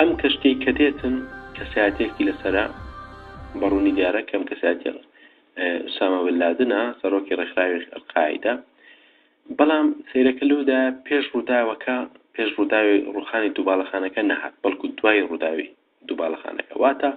ئەم کەشتیەی کە دێتن کەسایەتێکی لەسرە بەڕوونی دیارە کەم کەسایەتی سامە بلادنا سەرۆکی ڕێکخراوی ئەلقاعدە بەڵام سەیرەکە لەودایە پێش ڕووداوەکە، پێش ڕووداوی ڕووخانی دوو باڵەخانەکە نەهات، بەڵکو دوای ڕووداوی دوو باڵەخانەکە. واتە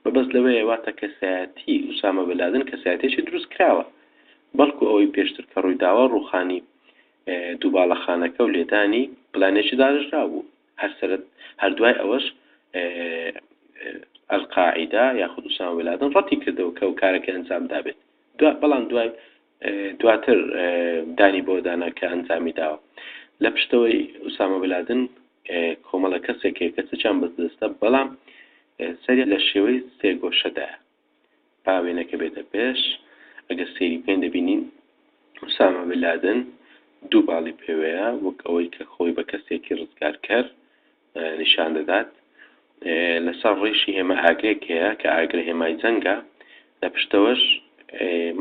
مەبەست لەوەیە، واتە کەسایەتیی ئوسامە بن لادن کەسایەتییەکی دروستکراوە، بەڵکو ئەوەی پێشتر کە ڕوویداوە، ڕووخانی دوو باڵەخانەکە و لێدانی پلانێکی داڕێژراو بوو. هەر سەرەت هەر دوای ئەوەش ئەلقاعیدە یاخود ئوسامە بن لادن ڕەتی کردەوە کە ئەو کارەکەی ئەنجام دابێت، دوا بەڵام دوای دواتر دانی بەوە دانا کە ئەنجامی داوە. لە پشتەوەی ئوسامە بلادن کۆمەڵە کەسێک هەیە کە چەکیان بەردەستە، بەڵام سەریان لە شێوەی سێگۆشەدایە. با وێنەکە بێتە پێش، ئەگەر سەیری بکەین دەبینین ئوسامە بلادن دوو باڵی پێوەیە، وەک ئەوەی کە خۆی بە کەسێکی ڕزگارکەر نیشان دەدات لەسەر ڕیشی هێما ئاگرێک هەیە کە ئاگرە هێمای جەنگە لە پشتەوەش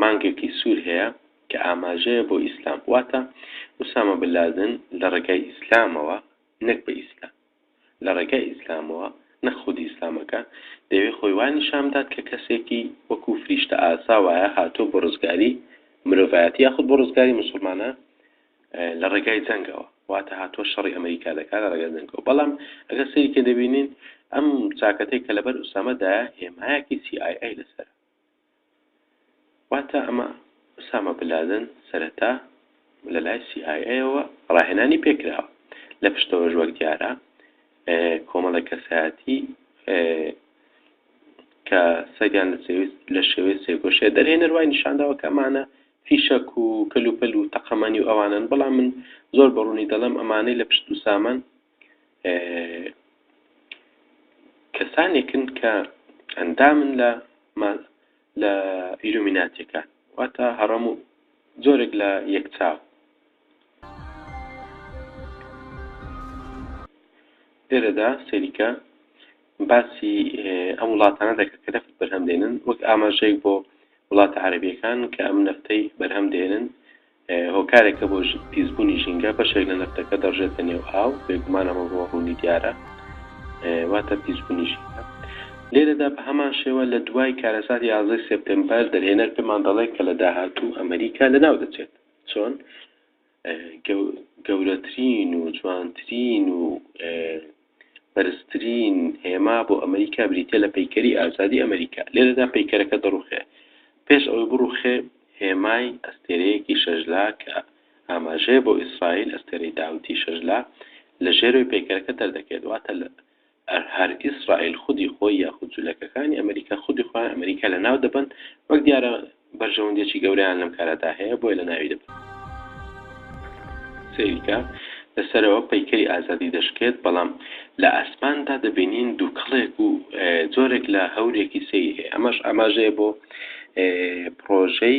مانگێکی سوور هەیە کە ئاماژەیە بۆ ئیسلام واتە وسامە بلادن لە ڕێگای ئیسلامەوە نەک بە ئیسلام لە ڕێگای ئیسلامەوە نەخودی ئیسلامەکە دەوێ خۆی وانی شامدات کە کەسێکی وەکو فریشتە ئاسا وایە هاتۆ بۆ ڕزگاری مرۆڤایەتی یاخود بۆ ڕزگاری مسلمانە لە ڕێگای جەنگەوە واتە هاتووە شەڕی ئەمەریکا دەکات لە ڕێگای جەنگەوە بەڵام ئەگەر سەیری کە دەبینین ئەم چاکەتەی کە لەبەر ئوسامەدایە هێمایەکی CIA لەسەر واتە ئەمە ئوسامە بلادن سەرەتا لە لای CIA-ەوە ڕاهێنانی پێکراوە لە پشتەوەش وەک دیارە کۆمەڵی کەسایەتی کە سەریان لە شێوەی سێگۆشێ دەرهێنەر وای نیشانداوە کەمانە فیشەک و کەلوپەل و تەقەمەنی و ئەوانەن، بەڵام من زۆر بە ڕوونی دەڵێم ئەمانەی لە پشت دووسامان کەسانێکن کە ئەندامن لە لە ئیلومیناتیەکان واتە هەڕەم و جۆرێک لە یەکچاو لێرەدا سەریکە باسی ئەم وڵاتانە دەکات کە نەفت بەرهەم دێنن وەک ئاماژەیەک بۆ وڵاتە عەرەبییەکان کە ئەم نەفتەی بەرهەم دێنن هۆکارێکە بۆ پیسبوونی ژینگە، بەشێک لە نەفتەکە دەڕژێتە نێو ئاو، بێگومان ئەمە بۆ ڕوونی دیارە واتە پیسبوونی ژینگە. لێرەدا بە هەمان شێوە لە دوای کارەساتی یازدەی سێپتێمبەر دەرهێنەر پێمان دەڵێت کە لە داهاتوو ئەمریکا لەناو دەچێت. چۆن؟ گەورەترین و جوانترین و بەرزترین هێما بۆ ئەمریکا بریتە لە پەیکەری ئازادی ئەمریکا لێرەدا پەیکەرەکە دەڕوخێ پێش ئەوەی بڕوخێ هێمای ئەستێرەیەکی شەژلا کە ئاماژەیە بۆ ئیسرائیل ئەستێرەی داوتی شەژلا لە ژێرەوەی پەیکەرەکە دەردەکەێت واتە لە ئەر هەر ئیسرائیل خودی خۆی یاخود جولەکەکانی ئەمریکا خودی خۆیان ئەمریکا لەناو دەبەن، وەک دیارە بەرژەوەندیەکی گەورەیان لەم کارەدا هەیە بۆیە لەناوی دەبەن. سەیریکە، لە سەرەوە پەیکەری ئازادی دەشکێت بەڵام لە ئاسماندا دەبینین دوکەڵێک و جۆرێک لە هەورێکی سەیری هەیە ئەمەش ئاماژەیە بۆ پڕۆژەی،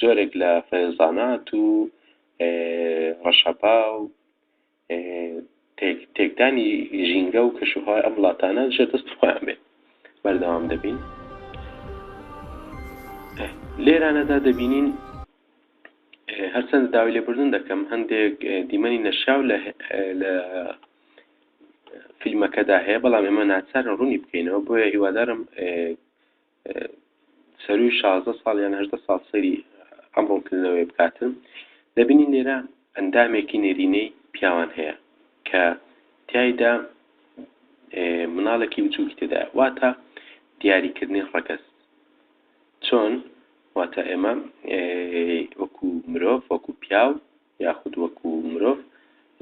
جۆرێک لە فەیضانات و ڕەشەبا و تێکدانی ژینگە و کەشوهوای ئەم وڵاتانە ژێر دەستی خۆیان بێت بەردەوام دەبین لێرانەدا دەبینین هەرچەند داوای لێبوردن دەکەم هەندێک دیمەنی نەشیاو لە فیلمەکەدا هەیە بەڵام ئێمە ناچارن ڕوونی بکەینەوە بۆیە هیوادارم سەرووی شازدە ساڵ یان هەژدە ساڵ سەیری ئەم ڕوونکردنەوەیە بکاتن، دەبینین لێرە ئەندامێکی نێرینەی پیاوان هەیە کە تیایدا مناڵێکی بچووکی تێدایە، واتە دیاریکردنی ڕەگەز چۆن واتە ئێمە وەکو مرۆڤ وەکو پیاو یاخود وەکو مرۆڤ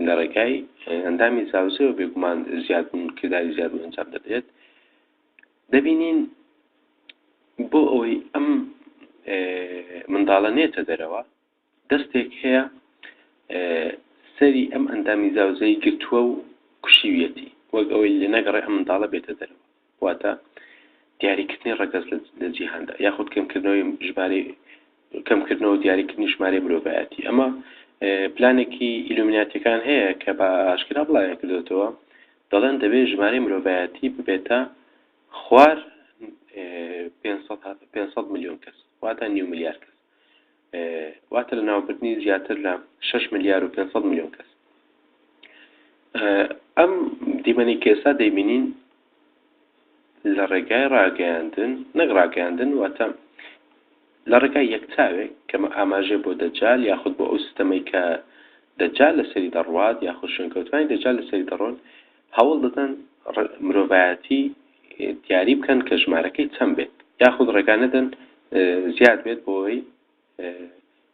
لە ڕێگای ئەندامی زاوزێەوە بێگومان زیادبوون کرداری زیادبوون ئەنجام دەدرێت دەبینین بۆ ئەوەی ئەم منداڵە نێتە دەرەوە دەستێک هەیە سەری ئەم ئەندامی زاوزەی گرتووە و کوشیویەتی وەک ئەوەی لە نەگەڕێ ئەم منداڵە بێتە دەرەوە واتە دیاریکردنی ڕەگەز لە جیهاندا یاخود کەمکردنەوەی ژمارەی کەمکردنەوەو دیاریکردنی ژمارەی مرۆڤایەتی، ئەمە پلانێکی ئیلومیناتیەکان هەیە کە بە ئاشکرا بڵاویان کردۆتەوە، دەڵێن دەبێت ژمارەی مرۆڤایەتی ببێتە خوار پێنج سەد پێنج سەد ملیۆن کەس واتە نیو ملیار کەس واتە لە ناوبردنی زیاتر لە شش ملیار و پێنج سەد ملیۆن کەس ئەم دیمەنی کێسا دەیبینین لە ڕێگای ڕاگەیاندن نەک ڕاگەیاندن واتە لە ڕێگای یەک چاوێک کەمە ئاماژەیە بۆ دەجال یاخود بۆ ئەو ستەمەی کە دەجال لەسەری دەڕوات یاخود شوێنکەوتوانی دەجال لەسەری دەڕۆن هەوڵ دەدەن مرۆڤایەتی دیاری بکەن کە ژمارەکەی چەند بێت یاخود ڕێگا نەدەن زیاد بێت بۆی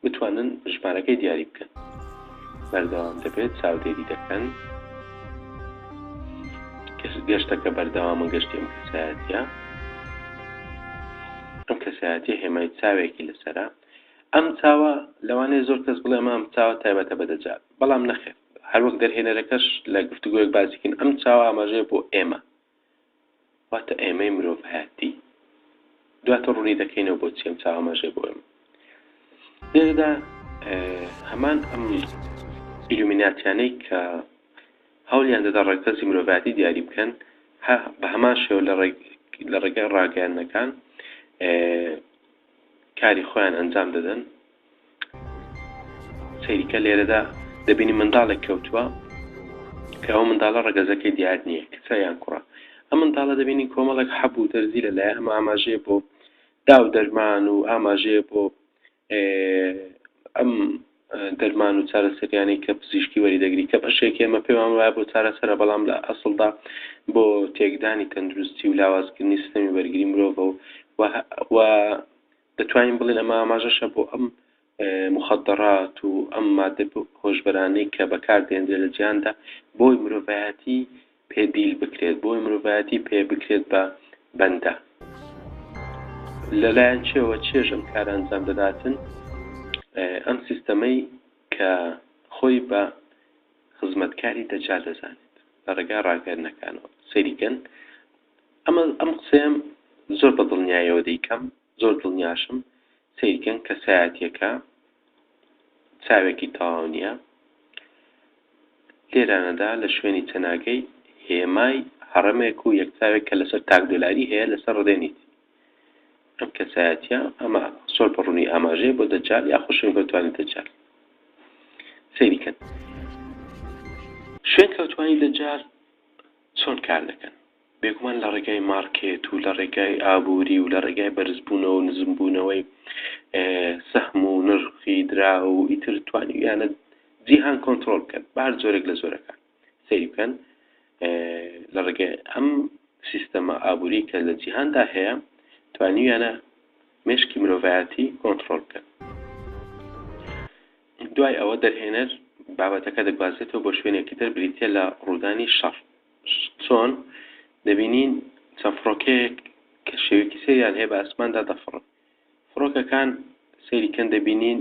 بتوانن ژمارەکەی دیاری بکەن بەردەوام دەبێت چاودێری دەکەن گەشتەکە بەردەوامە گەشتی ئەم کەسایەتە ئەم کەسایەتی هێمای چاوێکی لەسرە ئەم چاوە لەوانێ زۆر کەس بڵێ ئەمام چاوە تایبەتە بەدەجات بەڵام نەخێت هەروەک دەرهێنەرەکەش لە گفتوگوۆک باسیکن ئەم چاوە ئاماژەیە بۆ ئێمە واتە ئێمەی مرۆڤایەتی دواتر ڕوونی دەکەینەوە بۆچی ئەم چاوە مەژێ بۆ ئێمە لێرەدا هەمان ئەم ئیلومیناتیانەی کە هەولیان دەدا ڕێکەزی مرۆڤاتی دیاری بکەن بە هەمان شێو لە ڕێگای ڕاگەیانەکان کاری خۆیان ئەنجام دەدەن سەیریکە لێرەدا دەبینی منداڵێک کەوتووە کە ئەو منداڵە ڕگەزەکەی دیار نییە کچە یان کوڕە ئە منداڵە دەبینی کۆمەڵێک حەب و دەرزی لە لای ئەمە ئاماژەیە بۆ داو دەرمان و ئاماژەیە بۆ ئەم دەرمان و چارەسەریانەی کە پزیشکی وەریدەگری کە بەشێکی ئێمە پێمان وایە بۆ چارەسەرە بەڵام لە ئەسڵدا بۆ تێکدانی تەندروستی و لاوازکردنی سیستەمی بەرگری مرۆڤە و و دەتوانین بڵێن ئەمە ئاماژەشە بۆ ئەم مخدرات و ئەم مادە هۆشبەرانەی کە بەکاردێنرێت لە جیاندا بۆی مرۆڤایەتی پێ دیل بکرێت بۆی مرۆڤایەتی پێ بکرێت بە بەندە لەلایەن چێوە چێژ ئەم کارە ئەنجام دەداتن ئەم سیستەمەی کە خۆی بە خزمەتکاری دەجال دەزانێت لە ڕێگای ڕاگەرنەکانەوە سەریکەن ئەمە ئەم قسەیەم زۆر بە دڵنیایەوە دەیکەم زۆر دڵنیاشم سەیرکەن کەسایەتیەکە چاوێکی تەواو نیە لێرانەدا لە شوێنی چەناگەی هێمای هەڕەمێک و یەک چاوێک کە لەسەر تاک دۆلاری هەیە لەسەر ڕدێنیت ئەم کەسایەتیە ئەمە سۆر بەڕوونی ئاماژەیە بۆ دەجال یا خوشن گەوتوانی دەجال سەیری کەن شوێن کەوتوانی دەجال چۆن کار دەکەن بێگومان لە ڕێگای مارکێت و لە ڕێگای ئابووری و لە ڕێگای بەرزبوونەوە و نزمبوونەوەی سەهم و نرخی دراو و ئیتر توانیویانە جیهان کۆنترۆڵ بکەن بە هەر جۆرێک لە جۆرەکان سەیری بکەن لە ڕێگای ئەم سیستەمە ئابووری کە لە جیهاندا هەیە توانیویانە مشکی مرۆڤایەتی کۆنتترۆل بکەن دوای ئەوە دەرهێنەر بابەتەکە دەگوازێتەوە بۆ شوێنێکی تر بریتە لە ڕوودانی شەڕ چۆن؟ دەبینین چەند فڕۆکەیەک کە شێوەیەکی سەیریان هەیە بە ئاسماندا دەفڕن. فڕۆکەکان سەیریکەن دەبینین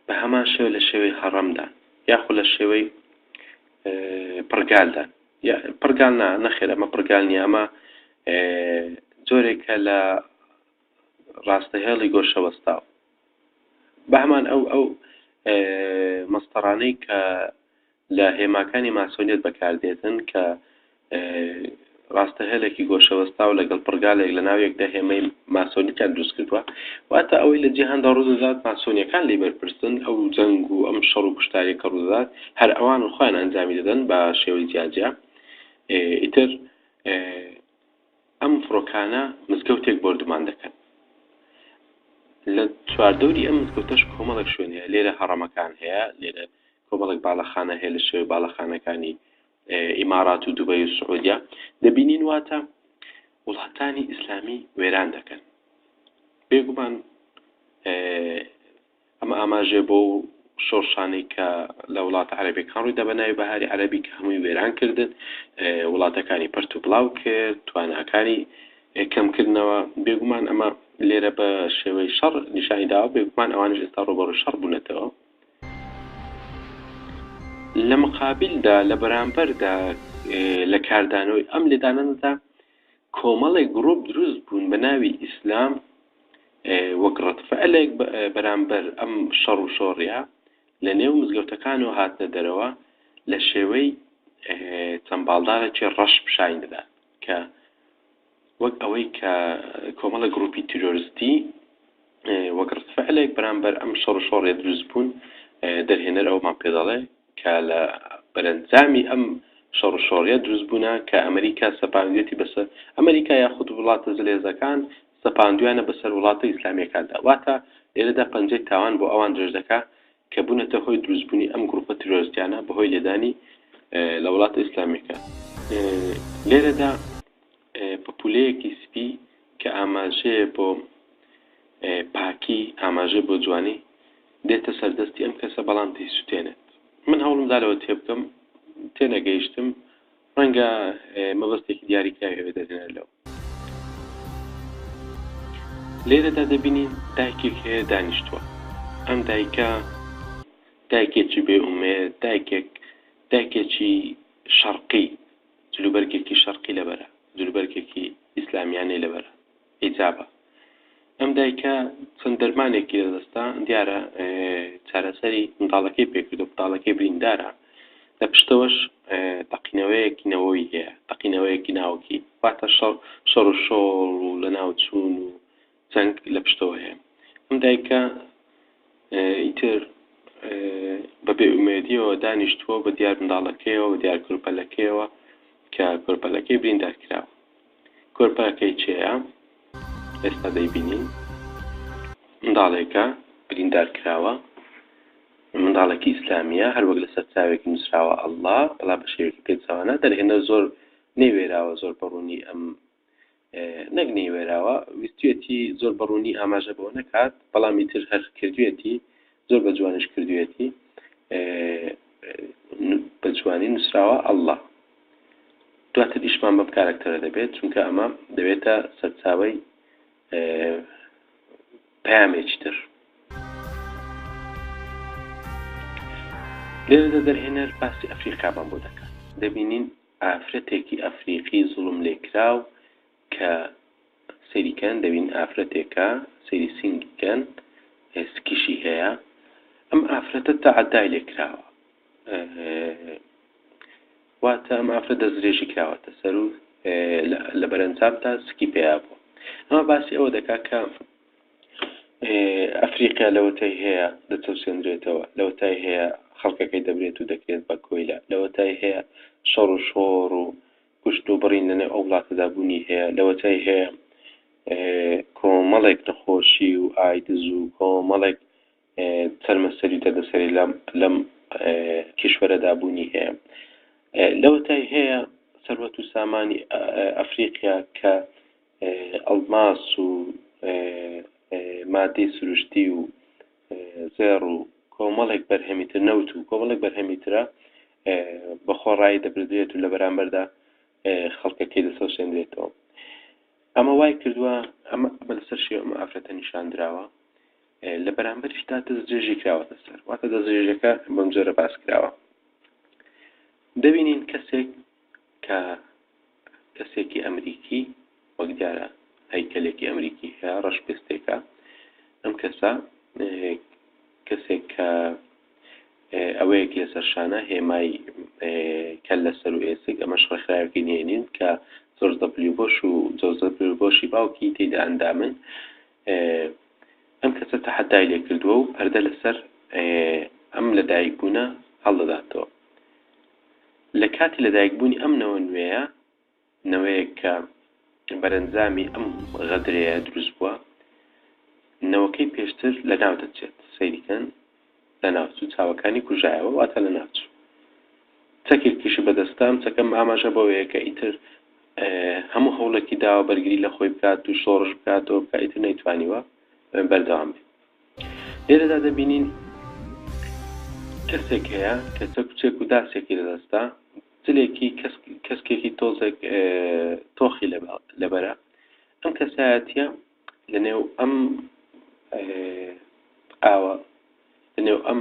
بە هەمان شێوە لە شێوەی هەڕەمدان یاخود لە شێوەی پڕگالدان پڕگال نا نەخێر ئەمە پڕگال نیە ئەمە جۆرێکە لە ڕاستەهێڵی گۆشەوەستاو بەمان ئەو ئەو مەستەرانەی کە لە هێماکانی ماسۆنیەت بەکاردێتن کە ڕاستە هێلێکی گۆشەوەستاو لەگەڵ پڕگالێک لە ناو یەکدا هێمای ماسۆنیتیان دروست کردووە واتە ئەوەی لە جیهاندا ڕوودەدات ماسۆنیەکان لێی بەرپرسن ئەو جەنگ و ئەم شەڕ و کوشتاریە کە ڕوودەدات هەر ئەوانن خۆیان ئەنجامی دەدەن بە شێوەی جیاجیا ئیتر ئەم فڕۆکانە مزگەوتێک بۆردومان دەکەن لە چواردەوری ئەم مزگەوتەش کۆمەڵێک شوێن هەیە لێرە هەڕەمەکان هەیە لێرە کۆمەڵێک باڵەخانە هەیە لە شێوەی باڵەخانەکانی ئیمارات و دوبەی و سعودیە دەبینین واتە وڵاتانی ئیسلامی وێران دەکەن بێگومان ئەمە ئاماژێ بۆ شۆرشانەی کە لە وڵات عربەکان ڕووی دەبەناوی بەهاری عربی کە هەمووی وێران کردن وڵاتەکانی پرت و بڵاو کرد تواناکانی کەمکردنەوە بێگومان ئەمە لێرە بە شێوەی شەڕ نیشانی داوە بێگومان ئەوانش ئێستا ڕۆبەڕ شەڕ بوونەتەوە لە مقابلدا لە بەرامبەردا لە کاردانەوەی ئەم لێدانەدا کۆمەڵێک گرۆپ دروست بوون بە ناوی ئیسلام وەک ڕەتفعلێک بەرامبەر ئەم شەڕ و شۆڕە لە نێو مزگەوتەکان و هاتنە دەرەوە لە شێوەی چەند باڵدارێکی ڕەش پیشانی دەدات کە وەک ئەوەی کە کۆمەڵێک گڕوپی تیرۆرستی وەک ڕەدفعلێک بەرامبەر ئەم شەڕ و شۆڕێ دروست بوون دەرهێنەر ئەوەمان پێ دەڵێ کە لە بەرەنجامی ئەم شەڕ و شۆڕیە دروست بوونە کە ئەمریکا سەپاندوێتی بەسەر ئەمریکا یاخود وڵاتە زلێزەکان سەپاندویانە بەسەر وڵاتە ئیسلامیەکاندا واتە لێرەدا پەنجەی تاوان بۆ ئەوان درێژ دەکا کە بونەتە هۆی دروست بونی ئەم گروپە تیرۆرستیانە بەهۆی لێدانی لە وڵاتە ئیسلامیەکان لێرەدا پپولەیەکی سپی کە ئاماژەیە بۆ پاکی ئاماژەی بۆ جوانی دێتە سەردەستی ئەم کەسە بەڵام دەیسوتێنێت من هەوڵم دالەوە تێبکەم تێنەگەیشتم ڕەنگە مەبەستێکی دیاریکراوی هەبێت دەزێنەر لەو لێرەدا دەبینین دایکێک هەیە دانیشتووە ئەم دایکە دایکێکی بێ ئومێد دایکێک دایکێکی شەڕقی جلوبەرگێکی شەڕقی لەبەرە جلوبەرگێکی ئیسلامیانەی لەبەرە حیجابە ئەم دایکە چەند دەرمانێکی لە دەستە دیارە چارەسەری منداڵەکەی پێکرد و منداڵەکەی بریندارە لە پشتەوەش تەقینەوەیەکی نەوەی هەیە تەقینەوەیەکی ناوکی واتە شەڕ شەڕ و شۆڵ و لە ناوچوون و جەنگ لە پشتەوە هەیە ئەم دایکە ئیتر بە بێ ئومێدیەوە دانیشتووە بە دیار منداڵەکەیەوە دیار کورپەلەکەیەوە کە کورپەلەکەی بریندار کراوە کۆرپەکەی چێە ئێستا دەیبینین منداڵێکە بریندار کراوە منداڵێکی ئیسلامیە هەروەک لەسەر چاوێکی نووسراوە ئەللا بەڵا بە شێوێکی پێچوانە دەرهێنە زۆر نەیوێراوە زۆر بەڕوونی ئەم نەک نەیوێراوە ویستێتی زۆر بەڕوونی ئاماژە بۆ نەکات بەڵامی تر هەر کردوێتی زۆر بە جوانیش کردویەتی بە جوانی نووسراوە ئەڵڵا. دواتر ئیشمان بەم کارەکتەرە دەبێت چونکە ئەمە دەبێتە سەرچاوەی پامێکی تر لێرەدا دەرهێنەر باسی ئەفریقامان بۆ دەکات دەبینین ئافرەتێکی ئەفریقی زوڵم لێکراو کە سەیری کەن دەبین ئافرەتێکە سەیری سینگی کەن سکیشی هەیە ئەم ئافرەتە تەعەدای لێ کراوە واتە ئەم ئافرەت دەستدرێژی کراوەتە سەر و لە بەرەنجام تا سکی پێیا بوو ئەمە باسی ئەوە دەکات کە ئەفریقیا لەوەتای هەیە دەچەوسێنرێتەوە لەوەتای هەیە خەڵکەکەی دەبرێت و دەکرێت بە کۆیلە لەوەتای هەیە شەڕ و شۆڕ و کوشتن و بڕین لە نێو ئەو وڵاتەدا بوونی هەیە، لەوەتای هەیە کۆمەڵێک نەخۆشی و ئایدز و کۆمەڵێک چەرمە سەری و دەردەسەری لەم کیشوەرەدا بوونی هەیە، لەوەتای هەیە سەروەت و سامانی ئەفریقیا کە ئەڵماس و مادەی سروشتی و زێڕ و کۆمەڵێک بەرهەمی تر نەوت و کۆمەڵێک بەرهەمی ترە بە خۆ ڕایی دەپردرێت و لە بەرامبەردا خەڵکەکەی دەسەوسێندرێتەوە ئەمە وای کردووە ئەمە بە لەسەر شێ ئەمە ئافرەتە نیشان دراوە لە بەرامبەرشدا دەست درێژی کراوەتە سەر واتە دەست درێژەکە بەم جۆرە باس کراوە دەبینین کەسێک کە کەسێکی ئەمریکی وەک دیارە هەیکەلێکی ئەمریکی هەیە ڕەش پێستێکە ئەم کەسە کەسێک کە ئەوەیەک لەسەر شانە هێمای کە لەسەر و ئێسک ئەمەش ڕێکخراوێکی نێنین کە زۆر دەبلی بۆش و جۆزە بۆشی باوکی تێدا ئەندامن ئەم کەسە تەحەدای لێ کردووە و پەردە لەسەر ئەم لەدایک بوونە هەڵدەداتەوە لە کاتی لەدایکبوونی ئەم نەوە نوێیە، نەوەیەک کە بەرەنجامی ئەم غەدرەیە دروست بووە، نەوەکەی پێشتر لەناو دەچێت، سەیری کەن، لەناوچوو، چاوەکانی کوژایەوە، واتە لەناوچوو. چەکێکیشی بەدەستە، ئەم چەکە ئاماژە بەوەیە کە ئیتر هەموو هەوڵێکی داوە بەرگری لە خۆی بکات و شۆڕش بکاتەوە، بکە ئیتر نەیتوانیوە بەردەوام بێت. لێرەدا دەبینین کەسێک هەیە کە چەک و چێک و داسێکی لەدەستە جلێکی کەسکێکی تۆزێک تۆخی لەبەرە ئەم کەسایەتە لەنێو ئەم ئاوە لەنێو ئەم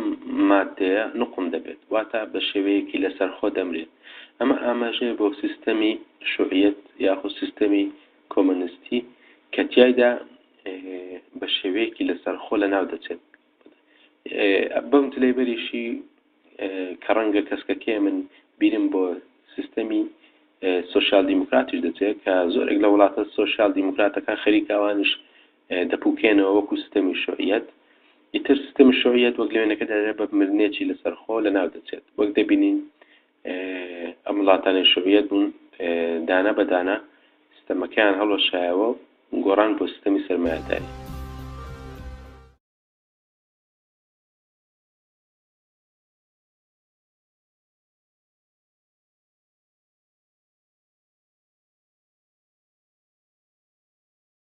مادەیە نقم دەبێت واتە بە شێوەیەکی لەسەر خۆ دەمرێت ئەمە ئاماژەیە بۆ سیستەمی شوعیت یاخود سیستەمی کۆمۆنستی کە تیایدا بە شێوەیەکی لەسەرخۆ لەناو دەچێت بەم تلەیبەریشی کە ڕەنگە کەسکەکەی من بیرم بۆ سیستەمی سوسیال دیموکراتیش دەچێت کە زۆرێک لە وڵاتە سوسیال دیموکراتەکان خەریکاوانش دەپوکێنەوە وەکو سیستەمی شوعیەت ئیتر سیستەمی شوعیەت وەک لەوێنەکە دەێ بە مرنێکی لەسەرخۆ لە ناو دەچێت وەک دەبینین ئەم وڵاتانەی شۆڤیەت بوون دانە بە دانە ستەمەکەیان هەڵوەشایەوە و گۆڕان بۆ ستەمی سەرمایەداری.